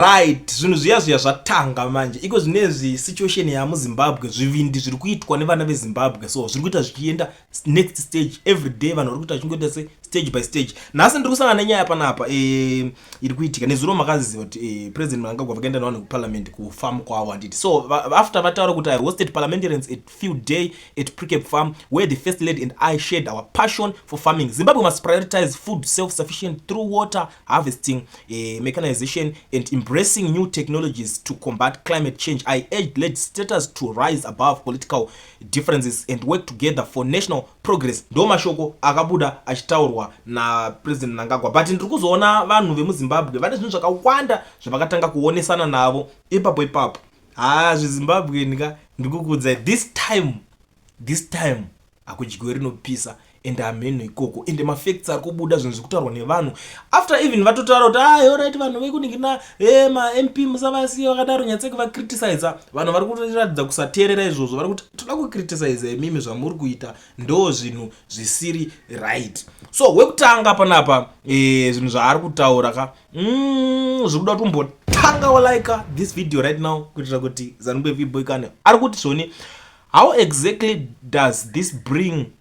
Right, zvinhu zviya zviya zvatanga manje iko zvinezvi situation yamuzimbabwe zvivindi zviri kuitwa nevana vezimbabwe so zviri kuita zvichienda next stage every day vanhu vari kuita vachingoita se stage by stage nhasi ndiri kusangana nenyaya panapa eh, iri kuitika nezuro makaziziva kuti eh, president mnangagwa vakaenda nevanhu kuparliament kufarm kwavo handiti so after vataura kuti i hosted parliamentarians at few day at precap farm where the first lady and i shared our passion for farming zimbabwe must prioritize food self sufficient through water harvesting, uh, mechanization, and embracing new technologies to combat climate change. I urge legislators to rise above political differences and work together for national progress. Ndo mashoko akabuda achitaurwa na President Mnangagwa. But ndiri kuzoona vanhu vemuZimbabwe vane zvinhu zvakawanda zvavakatanga kuonesana navo ipapo ipapo. Haa zvizimbabweni ka ndikukuudzai this time this time hakudyiwe rinopisa ende hameno ikoko ende mafacts ari kubuda zvinhu zviri kutaurwa nevanhu after even vatotaura kuti a ah, orit vanhu vekuningina e mamp musavasiye vakadaro nyatseki vacriticise vanhu vari kuratidza kusateerera izvozvo vari kuti toda kucriticise imimi zvamuri kuita ndo zvinhu zvisiri right so wekutanga panapa e, zvinhu zvaari kutaura ka mm, zviri kuda kutombotanga walaika this video right now kuitira kuti zanube viboikane ari kuti zvoni How exactly does this bring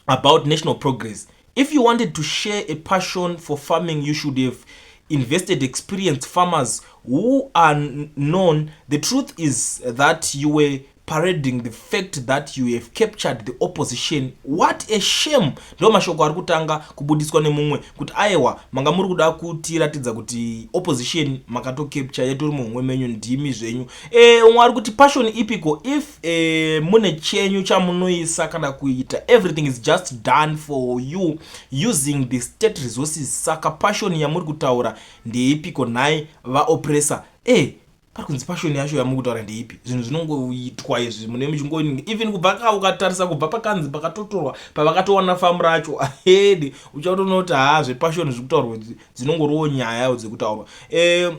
about national progress? If you wanted to share a passion for farming, you should have invested experienced farmers who are known. The truth is that you were parading the fact that you have captured the opposition what a shame ndo mashoko ari kutanga kubudiswa nemumwe kuti aiwa manga muri kuda kutiratidza kuti opposition makatocapture yatori muhomwe menyu ndimi zvenyu Eh, umwe ari kuti passion ipiko if eh, mune chenyu chamunoisa kana kuita everything is just done for you using the state resources saka passion yamuri kutaura ndeipiko nhai vaopressor eh, pari kunzi passion yacho yamuri kutaura ndeipi zvinhu zvinongoitwa izvi mune muchingo even kubva ka ukatarisa kubva pakanzi pakatotorwa pavakatowana famu racho ahedi uchatoona kuti haa zvepassion zviri kutaurwa dzinongoriwo nyaya dzekutaurwa eh,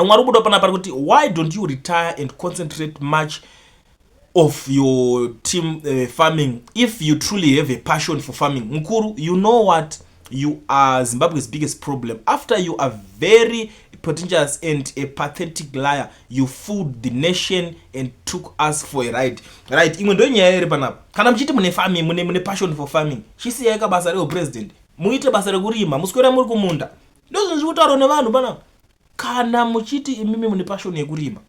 mwari ukuda pana pari kuti why don't you retire and concentrate much of your team uh, farming if you truly have a passion for farming mukuru you know what you are zimbabwe's biggest problem after you are very pretentious and a pathetic liar you fooled the nation and took us for a ride right imwe ndo nyaya iri panapa kana muchiti mune farming mune, mune passion for farming chisiyai kabasa reo president muite basa rekurima muswera muri kumunda ndozvinhu zviri kutaurwa nevanhu panapa kana muchiti imimi mune pashoni yekurima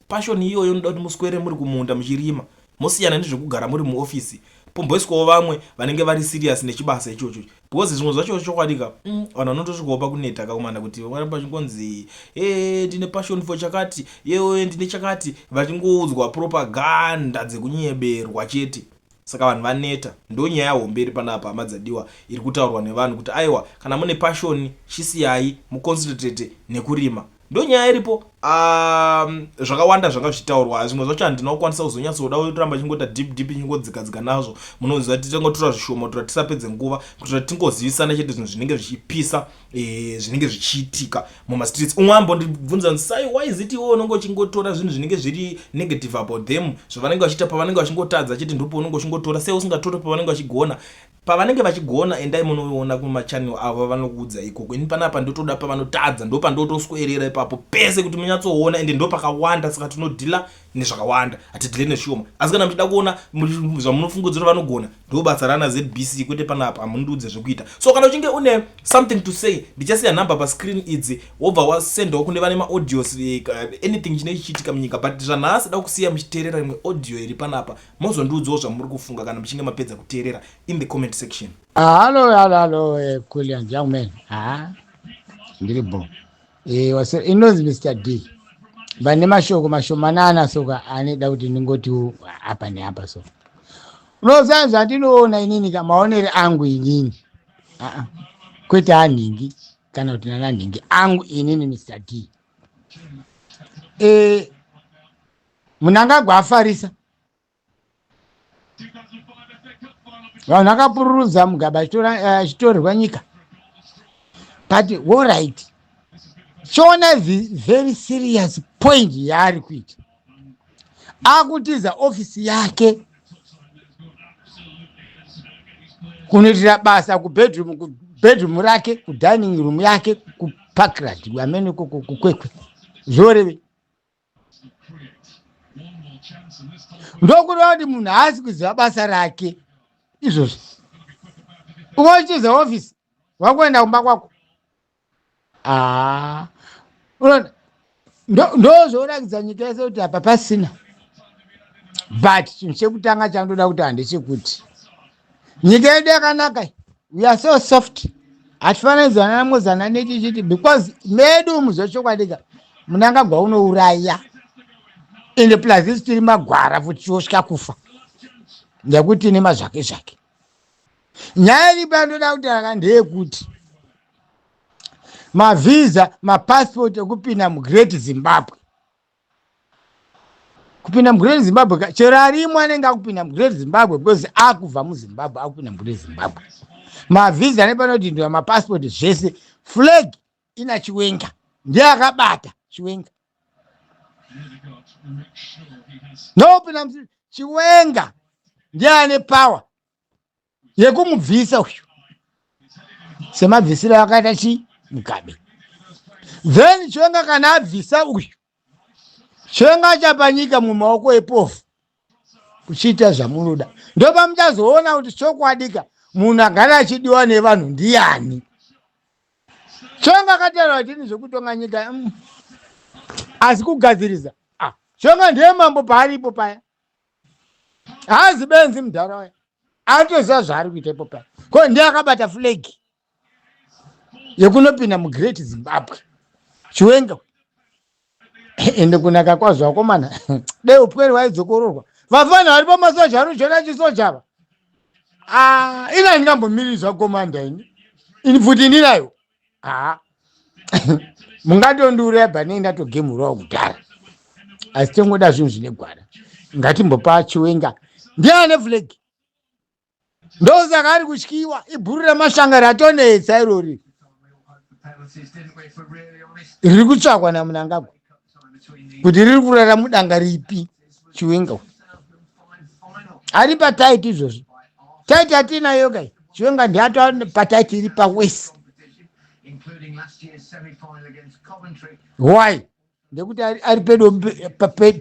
pashoni iyoyo inoda kuti muswere muri kumunda muchirima mosiyana nezvekugara muri muofisi pomboiswawo vamwe vanenge vari serious nechibasa ichocho because zvimwe zvacho chokwadi ka mm, vanhu vanotosvikawo pakuneta kakumana kuti vachingonzi e ndine passion for chakati yewe ndine chakati vachingoudzwa propaganda dzekunyeberwa chete Saka vanhu vaneta ndonyaya hombe iri panapa hama dzadiwa iri kutaurwa nevanhu kuti aiwa kana mune passion chisiyayi muconcentrate nekurima ndonyaya iripo umm zvakawanda zvanga zvichitaurwa zvimwe zvacho handina kukwanisa kuzonyatsoda kuramba chingota deep deep chingodzika dzika nazvo munoziva titangotura zvishoma kutura tisapedze nguva kutura tingozivisana chete zvinhu zvinenge zvichipisa eh, zvinenge zvichiitika mumastreets umwe ambondibvunza kuti sai why is it iwe unenge uchingotora zvinhu zvinenge zviri negative about them zvavanenge vachiita pavanenge vachingotadza chete ndipo unenge uchingotora sei usingatore pavanenge vachigona pavanenge vachigona endai munoona kumachanel avo vanokuudza ikoko ini panapa ndotoda pavanotadza ndopandotoswerera ipapo pese kuti munyatsoona ende ndopakawanda saka tinodhila nezvakawanda hatidhile neshoma asi kana muchida kuona zvamunofunga kuti vanogona ndo basa rana zbc kwete panapa hamundiudze zvekuita so kana uchinge une something to say ndichasiya number pascreen idzi wobva wasendawo kune vane maaudios eh, anything chine chichiitika munyika but zvanhasi da kusiya muchiteerera imwe audio iri panapa mozondiudzawo zvamuri kufunga kana muchinge mapedza kuteerera in the comment section halo halo halo eh, kulian young man ha ah, ndiri bo Eh, wase- inonzi mr d vane mashoko mashomanana soka anoda kuti ndingoti apa neapa so unoziva zvandinoona inini ka maonere angu inini Aa, kwete anhingi kana kuti nananhingi angu inini mr d Eh, munangagwa afarisa vanhu vakapururudza mugaba achitorerwa eh, nyika but allright chiona very serious point yaari kuita akutiza ofisi yake kunoitira basa kubedroom kubedroom rake kudining room yake kuparkrad amene kukwekwe zvoreve ndokureva kuti munhu haasi kuziva basa rake izvozvi umochiza ofisi wakuenda kumba kwako haa unoona ndozvoratidza nyika yese kuti apa pasina but chinhu chekutanga chandoda kuti handechekuti nyika yedu yakanaka iyi. we are so soft hatifaniri kuzanana mozana nechi chiti because medu umu zvechokwadika munangagwa unouraya ende plus isi tiri magwara futi tiosvika kufa nekuti tine mazvake zvake nyaya iripo yandoda kutaraka ndeyekuti mavhiza mapasipoti ekupinda mugreat zimbabwe kupinda mugreat zimbabwe ka chero arimwe anenge akupinda mugreat zimbabwe because akubva muzimbabwe akupinda mugreat zimbabwe mavhiza nepanodhindura mapasipoti zvese flag ina chiwenga ndiye akabata chiwenga nopinda chiwenga ndiye ane power yekumubvisa uyu semabvisiro akaita chi mugabe then chwenga kana abvisa uyu chwenga achapa nyika mumaoko epofu kuchiita zvamunoda ndopamuchazoona kuti chokwadika munhu agara achidiwa nevanhu ndiyani chwenga akataura kuti ini zvekutonga nyika mm, asi kugadzirisa ah, chwenga ndiye mambo paaripo paya haazi benzi mudhara waya atoziva zvaari kuita ipo paya ko ndiye akabata flegi yekunopinda mugreat zimbabwe chiwenga ende kunaka kwazvo vakomana dei upwere waidzokororwa vafana vari pamasoja ari kuzviona chisojava ah, ina ndingambomirizva komanda ini ini pfuti ndinayo haa mungatondiuraya pane ndatogemurawo kudhara asi tongoda zvinhu zvine gwara ngatimbopa chiwenga ndiye ane flag ndosaka ari kutyiwa ibhuru remashanga ratonetsa irori riri kutsvakwa namunangagwa kuti riri kurara mudanga ripi chiwenga uyu ari pataiti izvozvi taiti atiinayo kai chiwenga ndiato pataiti iri pawesi why ndekuti ari pedo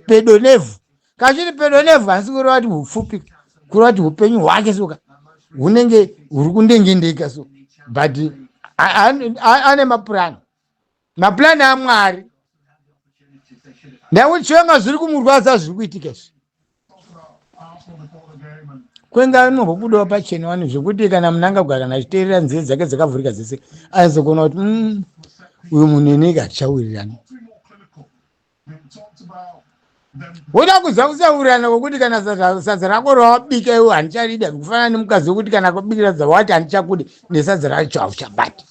pedo nevhu kachiri pedo nevhu asi kureva kuti hupfupi kureva kuti upenyu hwake soka hunenge huri kundengendeka so but ane mapurani maplan amwari ndakuchionga zviri kumurwadza zviri kuitika izvi kwenga anombobudawo pachena wani zvekuti kana munangagwa kana achiteerera nzeve dzake dzakavhurika dzese aizogona kuti mm, uyu munhu ini ika tichawirirana woda kuziva kusaurirana kwekuti kana sadza rako rawabika iwe handicharida kufanana nemukadzi wekuti kana kubikira sadza wati handichakude nesadza racho hauchabati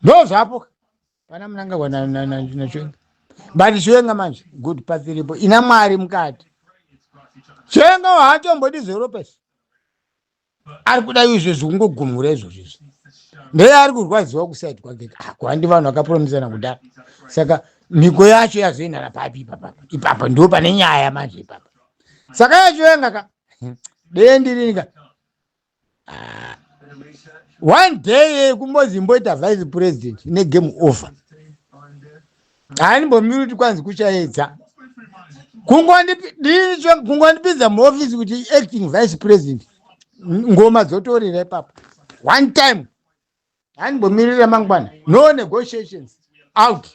ndo zvapo pana munangagwa nachiwenga but chiwenga manje good path iripo ina mwari mukati chiwenga hatombodi zveropes ari kuda izvo zvekungogumhura izvozvo izvi ndeye ari kurwadziwa kusaidi kwake ako handi vanhu vakapromisana kudaro saka mhiko yacho yazoendana papi ipapapa ipapa ndo pane nyaya manje ipapa saka yachivenga ka deye ndirini ka ah. one day kumbozi imboita vice president negame over haandimbomiri kwanzi kuchaedza kungondipinza muofisi kuti acting vice president ngoma dzotorira ipapo one time handimbomirira mangwana no negotiations out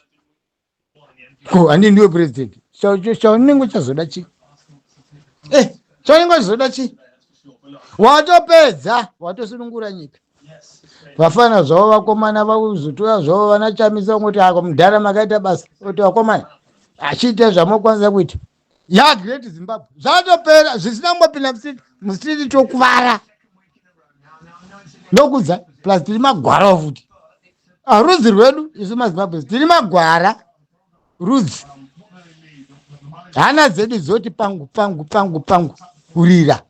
ko handi ndiwe president chaunenge uchazoda chii eh, chaunenge uchazoda chii watopedza watosunungura nyika vafana zvavo vakomana vakuzotora zvavo vana chamisa kungoti ako mudhara makaita basa kuti vakomana achiita zvamokwanisa kuita ya great zimbabwe zvatopera zvisina kumbopinda musiti musiti tokuvara ndokudza plus tiri magwara futi aruzi rwedu isu mazimbabwe tiri magwara Rudzi. Hana dzedu dzoti pangu pangu pangu pangu kurira.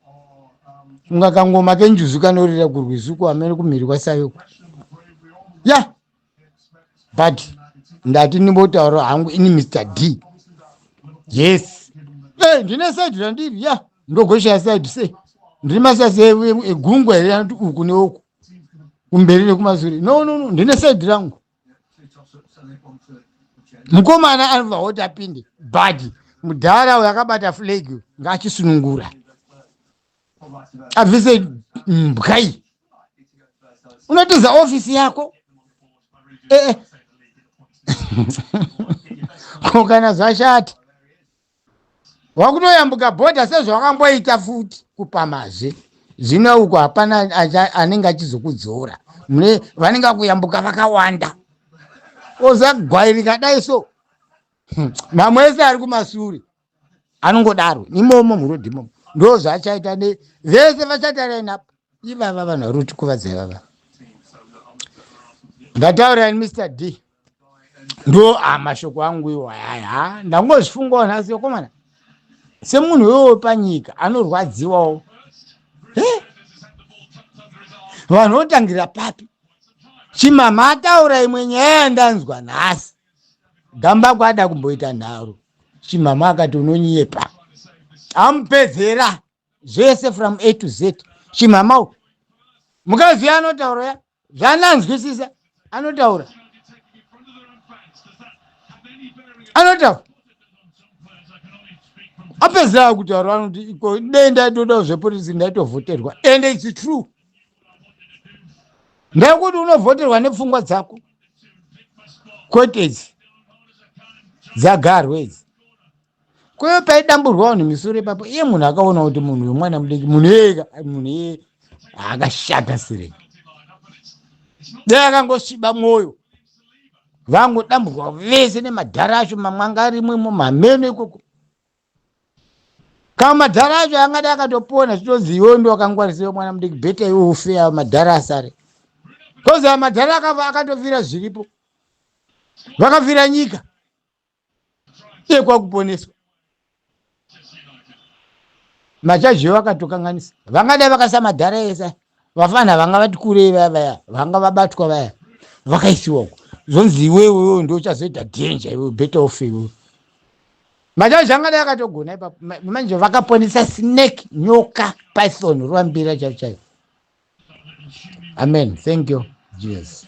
Kunga kangoma kenjuzu kanorira kurwizuko amene kumhiri kwasayoko. Ya. Yeah. But ndati ndimbotaura hangu ini Mr D. Yes. Eh, hey, ndine side randiri. Ya. Yeah. Ndogoshaya side say. Ndiri masasi egungwa here anoti uku neuku. Kumberi nekumasure. No no no, ndine side rangu. Mukomana anobva oti apinde bhadhi mudhara uyo akabata flag ngaachisunungura abvise mbwa iyi unotiza ofisi yako ee eh, eh. ko kana zvashata wakutoyambuka bhodha sezvawakamboita futi kupamazve zvino uko hapana anenge achizokudzora mune vanenge vakuyambuka vakawanda ozagwairika dai so hmm, mamwe ese ari kumasure anongodaro imomo murodhi imomo ndo zvaachaita ne vese vachatarainapo ivava vanhu vari kutikuvadza ivava ndataurira ni mr d ndo ah, mashoko angu iwo ayaya ah, ndangozvifungawo nhasi yokomana semunhu wewo wepanyika anorwadziwawo Eh, vanhu votangira papi chimama ataura imwe nyaya yandanzwa nhasi gamba kwada kumboita nharo chimama akati unonyepa amupedzera zvese from a to z chimama u mukadzi uya anotaura ya zvaananzwisisa anotaura anotaura apedzera kutaura anoti iko dei ndaitodawo zvepolisi ndaitovhoterwa and its true ndekuti unovhoterwa nepfungwa dzako kwete idzi dzagarwe idzi Kweyo paidamburwa vanhu misoro ipapo, iye munhu akaona kuti munhu uyu mwana mudiki, munhu iyeye munhu iyeye akashata sirei. Dai akangosviba mwoyo vangodamburwa vese nemadhara acho mamwe anga arimwe imo mameno ikoko kama madhara acho angadi akatopona zvitonzi iwewe ndo wakangwarisiwa mwana mudiki bheta iwe ufe ava madhara asare kozi ava madhara akava akatovira zviripo vakavira nyika iye kwakuponeswa machaji yo vakatokanganisa vangadai vakasa madhara ese vafana vanga vati kurei vaya vaya vanga vabatwa vaya vakaisiwa uko zvonzi iwewe iwewe ndo uchazoita danger iwewe better off iwewe machaji angadai akatogona ipapo Ma- manje vakaponesa snake nyoka python rwambira chaivo chaivo amen thank you jesus